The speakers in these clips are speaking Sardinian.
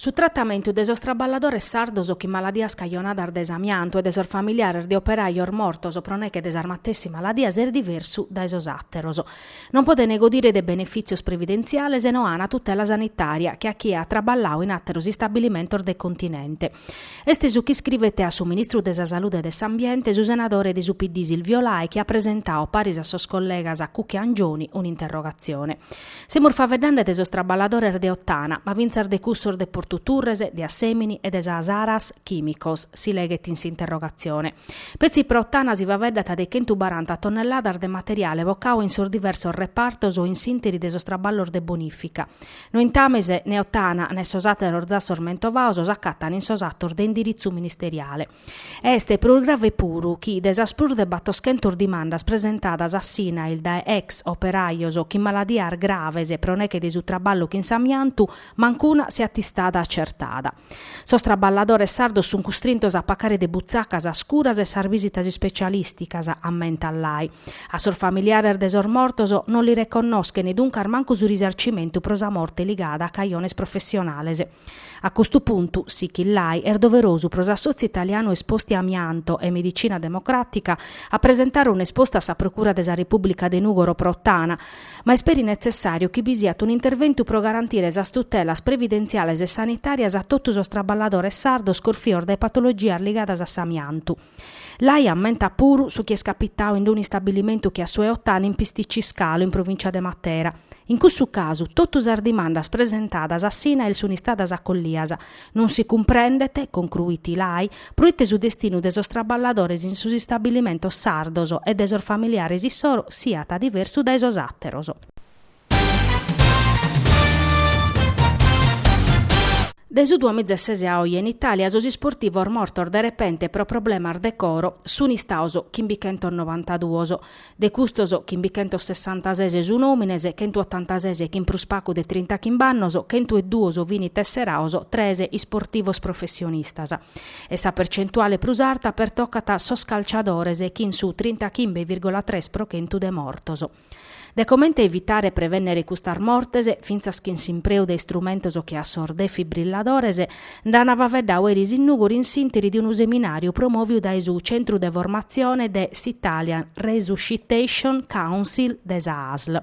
Su tratamentu de sos traballadores sardos chin maladias cajonadas dae s'amiantu e de sos familiares de operajos mortos pro neche de sas matessi maladias est diversu dae sos àteros. Non podene godire de benefìtzios previdentziales e no ana tutela sanitària che a chie at traballau in àteros istabilimentos de continente. Est su chi iscrivet a su ministru de sa Salude e de s'Ambiente su senadore de su PD Silvio Lai chi at presentau, paris a sos collegas Cucca e Angioni, un'interrogatzione. Semus faveddande de sos traballadores de Ottana, ma fintzas de cussos de Portu Turres, de Assemini e de sa Saras Chìmicos, si leghet in s'interrogatzione. Petzi pro Ottana si faveddat de chentu baranta tonnelladas de materiale bocau in sos diversos repartos o in s'ìnteri de sos traballos de bonìfica. Nointames, ne Ottana ne sos àteros zassos mentovaos s'acatant in sos atos de indiritzu ministeriale. Est prus grave puru chi de sas prus de battoschentos dimandas presentadas a s'INAIL dae ex operajos chin maladias graves pro neche de su traballu chin s'amiantu, mancuna siat istada acertada. Sos traballadores sardos sunt custrintos a pacare de butzaca sas curas e sas visitas ispecialìsticas, ammentat Lai. A sos familiares de sos mortos non li reconnoschent duncas mancu su risarcimentu pro sa morte ligada a cajones professionales. A custu puntu, sichit Lai, est doverosu pro s'Assotziu Italianu Esposti Amianto e Medicina Democràtica a presentare un'espostu a sa Procura de sa Repùblica de Nùgoro pro Ottana, ma est peri netzessàriu chi bi siat un'interventu pro garantire sas tutelas previdentziales e sanitàrias a totu sos traballadores sardos corfios dae patologias ligadas a s'amiantu. Lai ammentat puru su chi est capitau in unu istabilimentu che a su 'e Ottana in Pisticci Scalo, in provìncia de Matera. In cussu casu, totu sas dimandas presentadas a s'INAIL sunt istadas acollias. Non si cumprendet, concruit Lai, proite su destinu de sos traballadores in sos istabilimentos sardos e de sos familiares issoro siat diversu dae sos àteros. De su duamizesese a oje in Itàlia sos isportivos mortos de repente pro problemas de coro sunt istaos chimbichentos novantaduos. De custos, chimbichentos sessantases sun òmines, chentu otantases chin prus pacu de trinta chimb'annos, chentu e duos fini tesseraos, tres isportivos professionistas. E sa percentuale prus arta pertocat sos calciadores chin su trinta chimbe virgola tres pro chentu de mortos. de comente evitare e prevènnere custas mortes, fintzas chin s'impreu de istrumentos che a sos defibrilladores, nd'an faveddau eris in Nùgoro in s'ìnteri de unu seminàriu promòviu dae su Centru de Formatzione de s'Italian Resuscitation Council de sa Asl.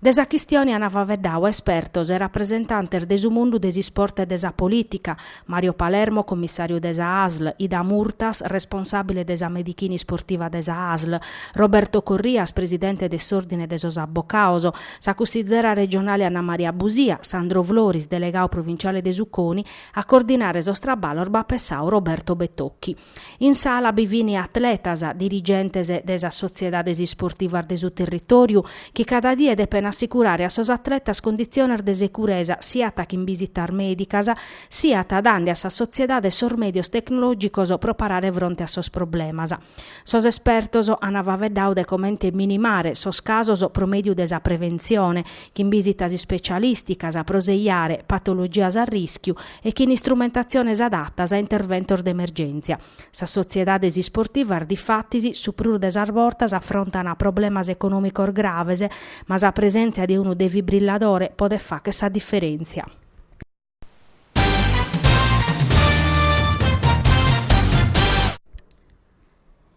De sa chistione an faveddau espertos e rapresentantes de su mundu de s'isport e de sa polìtica, Mario Palermo, commissàriu de sa Asl, Ida Murtas, responsàbile de sa medichina de s'isport de sa Asl, Roberto Corrias, presidente de s'Òrdine de sos Abbocados, sa cussizera regionale Anna Maria Busia, Sandro Floris, delegadu provinciale de su CONI, a coordinare sos traballos b'at pensadu Roberto Bettocchi. In sala bi fin atletas, dirigentes de sas sotziedades isportivas de su territòriu chi cada die depen assicurare a sos atletas conditziones de seguresa siat chin bisitas mèdicas, siat dande a sas sotziedades sos mèdios tecnològicos pro parare fronte a sos problemas. Sos espertos an faeddadu de comente minimare sos casos pro mèdiu de sa preventzione, chin bìsitas ispetzialìsticas pro seiare patologias a rìschiu e chin istrumentatziones adatas a interventos de emergèntzia. Sas sotziedades isportivas difatis su prus de sas bortas afrontan problemas econòmicos graves, ma sa presèntzia de unu defibrilladore podet fàghere sa diferèntzia.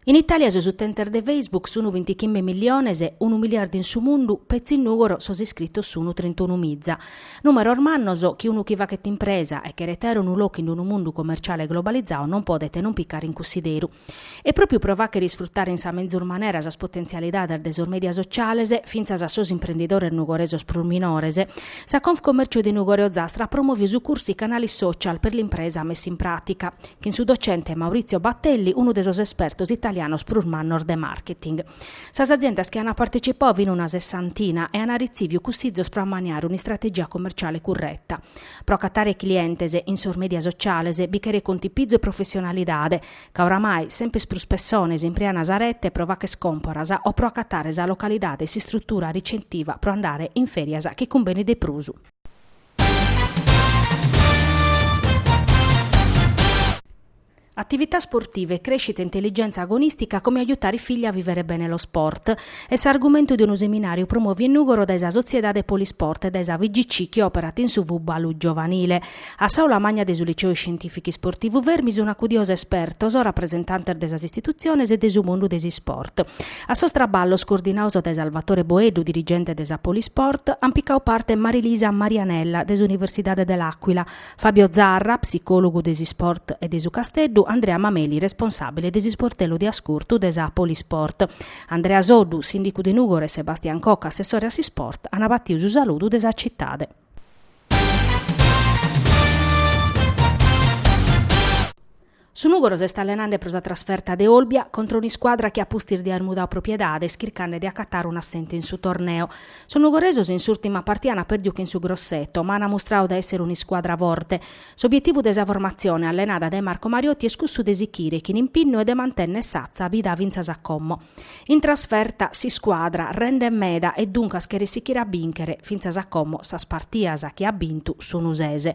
In Itàlia sos utentes de Facebook sunu bintichimbe milliones e unu miliardu in su mundu, petzi in Nùgoro sos iscritos sunu trintunu miza. Nùmeros mannos chi unu chi faghet impresa e cheret àere unu locu in unu mundu commerciale globalizadu non podet non picare in cussideru. E pròpiu pro fàghere isfrutare in sa menzur manera sas potentzialidades de sos mèdia sotziales, fintzas a sos imprendidores nugoresos prus minores, sa Confcommercio de Nùgoro e Ozastra at promòviu su cursu I Canali Social per l'impresa messi in pratica, chin su docente Maurizio Battelli, unu de sos espertos italianos prus mannos de marketing. Sas aziendas chi ant partecipadu fin una sessantina e ant arretziviu cussizos pro ammaniare un'istrategia commerciale curreta. Pro acatare clientes in sos media sociales bi cheret contipizu e professionalidade, ca oramai semper prus pessones impreant sa rete pro facher còmporas o pro acatare sa localidade e s'istrutura ricetiva pro andare in ferias chi cumbenit de prusu. Attività sportiva e crescita, intelligenza agonistica, come aiutare i figli a vivere bene lo sport est s'argumentu de unu seminàriu promòviu in Nùgoro dae sa Sotziedade Polisport e dae sa FIGC chi òperat in su fùbalu giovanile. A s'aula magna de su Liceu Scientìficu Isportivu Fermi sunt acudios espertos, rapresentantes de sas istitutziones e de su mundu de s'isport. A sos traballos, coordinados dae Salvatore Boeddu, dirigente de sa Polisport, ant picadu parte Marilisa Marianella de s'Universidade de L'Aquila, Fabio Zarra, psicòlogu de s'isport e de su Casteddu, Andrea Mameli, responsàbile de s'isportellu de ascurtu de sa Polisport, Andrea Soddu, sìndicu de Nùgoro e Sebastian Cocco, assessore a s'isport, ant batiu su saludu de sa citade. Su Nùgoro s'est allenande pro sa trasferta de Olbia contra un'iscuadra chi a pustis de àer mudadu propiedade est chircande de acatare un'assentu in su torneo. Sos nugoresos in s'ùrtima partida ant pèrdiu chin su Grosseto, ma ant mustradu de èssere un'iscuadra forte. S'obietivu de sa formatzione allenada dae Marco Mariotti est cussu de sichire chin impinnu e de mantènnere s'atza bida fintzas a como. In trasferta s'iscuadra rendet meda e duncas cheret sichire a bìnchere fintzas a como sas partidas chi at bintu sunu ses e.